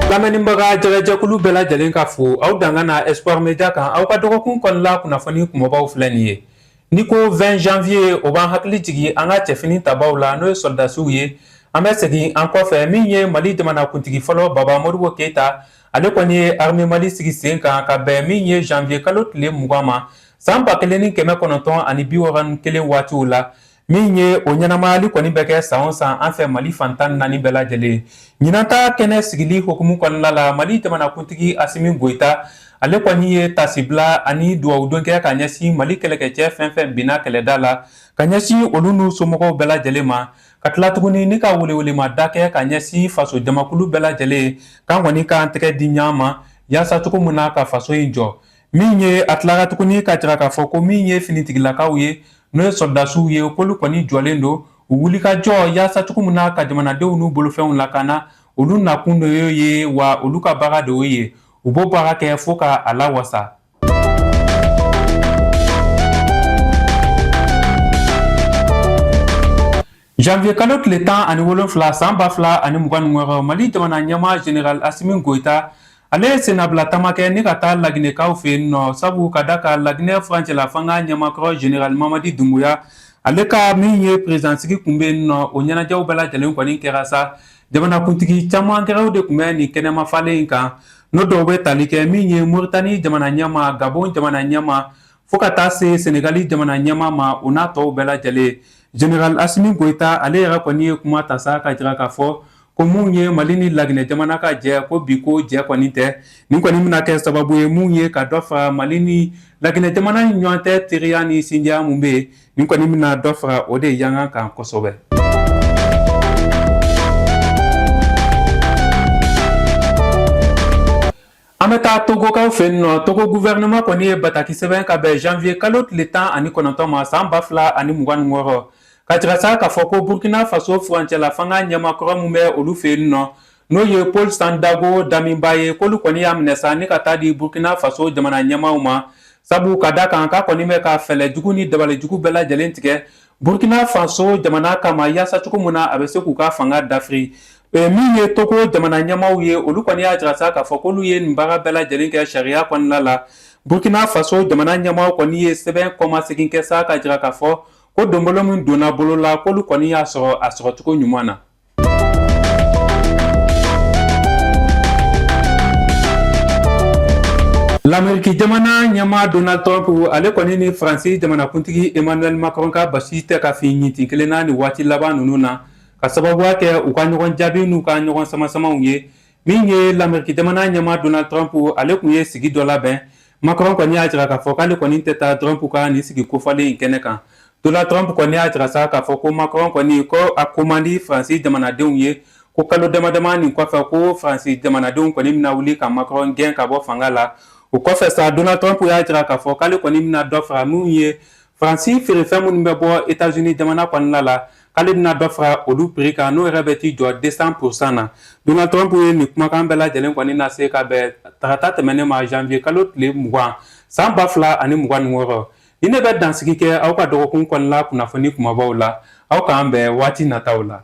lamɛnnibaga jɛgɛjɛkulu bɛɛ lajɛlen ka fo aw danga na espoir media kan aw ka dɔgɔkun kɔnɔla kunnafoni kunbabaw filɛ nin ye ni ko 20 janvier o b'an hakili jigi an ka cɛfini tabaw la n'o ye sɔrɔdasiw ye an bɛ segin an kɔfɛ min ye mali jamanakuntigi fɔlɔ baba modibo keyita ale kɔni ye arme mali sigi sen kan ka bɛn min ye janvier kalo tile mugan ma saan ba kelen ni kɛmɛ kɔnɔntɔn ani bi wɔɔrɔ ni kelen waatiw la min ye o ɲɛnamayali kɔni bɛ kɛ san o san an fɛ mali fan tan naani bɛɛ lajɛlen ɲinan ta kɛnɛ sigili hukumu kɔnɔna la mali jamanakuntigi asimi goyita ale kɔni ye tasibila ani duwawudon kɛ ka ɲɛsin mali kɛlɛkɛcɛ fɛn fɛn binna kɛlɛda la ka ɲɛsin olu n'u somɔgɔw bɛɛ lajɛlen ma ka tila tuguni ni ka welewelemada kɛ ka ɲɛsin faso jamakulu bɛɛ lajɛlen k'an kɔni k'an tɛgɛ di ɲɔgɔn ma yaasa cogo min na ka faso in jɔ min ye a tilara tuguni ka jira k'a fɔ ko min ye finitigilakaw ye n'o ye sɔrɔdasiw ye k'olu kɔni jɔlen don u wulikajɔ yaasa cogo min na ka jamanadenw n'u bolofɛnw lakana olu nakun de y'o ye wa olu ka baara de y'o ye u b'o baara kɛ fo ka a lawasa janvier kalo tile tan ani wolonfila saan ba fila ani mugan ni wɔɔrɔ mali jamana ɲɛmaa general asimi goyita ale ye sennabila taama kɛ ni ka taa laginɛkaw fɛ yen nɔ sabu ka da ka laginɛ furancɛla fanga ɲɛmaa kɔrɔ general mamadi dunbuya ale ka min ye perezidansigi kun bɛ yen nɔ o ɲɛnajɛw bɛɛ lajɛlen kɔni kɛra sa jamanakuntigi caman wɛrɛw de kun bɛ nin kɛnɛmafalen in kan N'o dɔw bɛ tali kɛ min ye moritani jamana ɲɛmaa gabon jamana ɲɛmaa fo ka taa se senegali jamana ɲɛmaa ma u n'a tɔw bɛɛ lajɛlen general asimi goyita ale yɛrɛ kɔni ye kuma ta sa ka jira k'a fɔ ko min ye mali ni laginɛ jamana ka jɛ ko bi ko jɛ kɔni tɛ nin kɔni bɛna kɛ sababu ye min ye ka dɔ fara mali ni laginɛ jamana ɲɔgɔn tɛ teriya ni sindiya min bɛ yen nin kɔni bɛna dɔ fara o de yankan kan kosɛbɛ an bɛ taa togokaw fɛ yen nɔ togo gufɛrɛnaman kɔni ye bataki sɛbɛn ka bɛn janvier kalo tile tan ani kɔnɔntɔn ma san ba fila ani mugan ni wɔɔrɔ ka jira sa k'a fɔ ko burkina faso furancɛla fanga ɲɛmaa kɔrɔ min bɛ olu fɛ yen nɔ n'o ye paul sandaogo damiba ye k'olu kɔni y'a minɛ sa ni ka taa di burukina faso jamana ɲɛmaaw ma sabu ka da kan k'a kɔni bɛ ka fɛɛrɛ jugu ni dabalijugu bɛɛ lajɛlen tigɛ burukina faso jamana kama yaasa cogo min na a bɛ se k'u ka fanga dafiri min ye togo jamana ɲɛmaaw ye olu kɔni y'a jira sa k'a fɔ k'olu ye nin baara bɛɛ lajɛlen kɛ sariya kɔnɔna la burukina faso jamana ɲɛmaaw kɔni ye sɛbɛn kɔmasegin kɛ sa ka jira k'a fɔ ko donbolo min donna bolo la k'olu kɔni y'a sɔrɔ a sɔrɔcogo ɲuman na Lameriki jamana ɲɛmaa Donald Trump ale kɔni ni faransi jamanakuntigi Emmanuel Macron ka basi tɛ ka fin ɲintin kelen na ni waati laban ninnu na ka sababuya kɛ u ka ɲɔgɔn jaabi n'u ka ɲɔgɔn samasamaw ye min ye lameriki jamana ɲɛmaa Donald Trump ale kun ye sigi dɔ labɛn Macron kɔni y'a jira k'a fɔ k'ale kɔni tɛ taa Trump ka nin sigi kofɔlen in kɛnɛ kan Donald Trump kɔni y'a jira sa k'a fɔ ko Macron kɔni ko a ko man di Faransi jamanadenw ye ko kalo damadama nin kɔfɛ ko Faransi jamanadenw kɔni bɛna wuli ka Macron gɛn ka bɔ fanga la o kɔfɛ sa Donald Trump y'a jira k'a fɔ k'ale kɔni bɛna dɔ fara minnu ye Faransi feerefɛn minnu bɛ bɔ États-Unis jamana kɔnɔna la k'ale bɛna dɔ fara olu prix kan n'o yɛrɛ bɛ t'i jɔ deux cents pour cent na Donald Trump ye nin kumakan bɛɛ lajɛlen kɔni lase ka bɛn tarata tɛmɛnen ma janvier kalo tile mugan san ba fila ani mugan ni wɔɔrɔ nin de bɛ dansigi kɛ aw ka dɔgɔkun kɔnɔna kunnafoni kunbabaw la aw k'an bɛn waati nataw la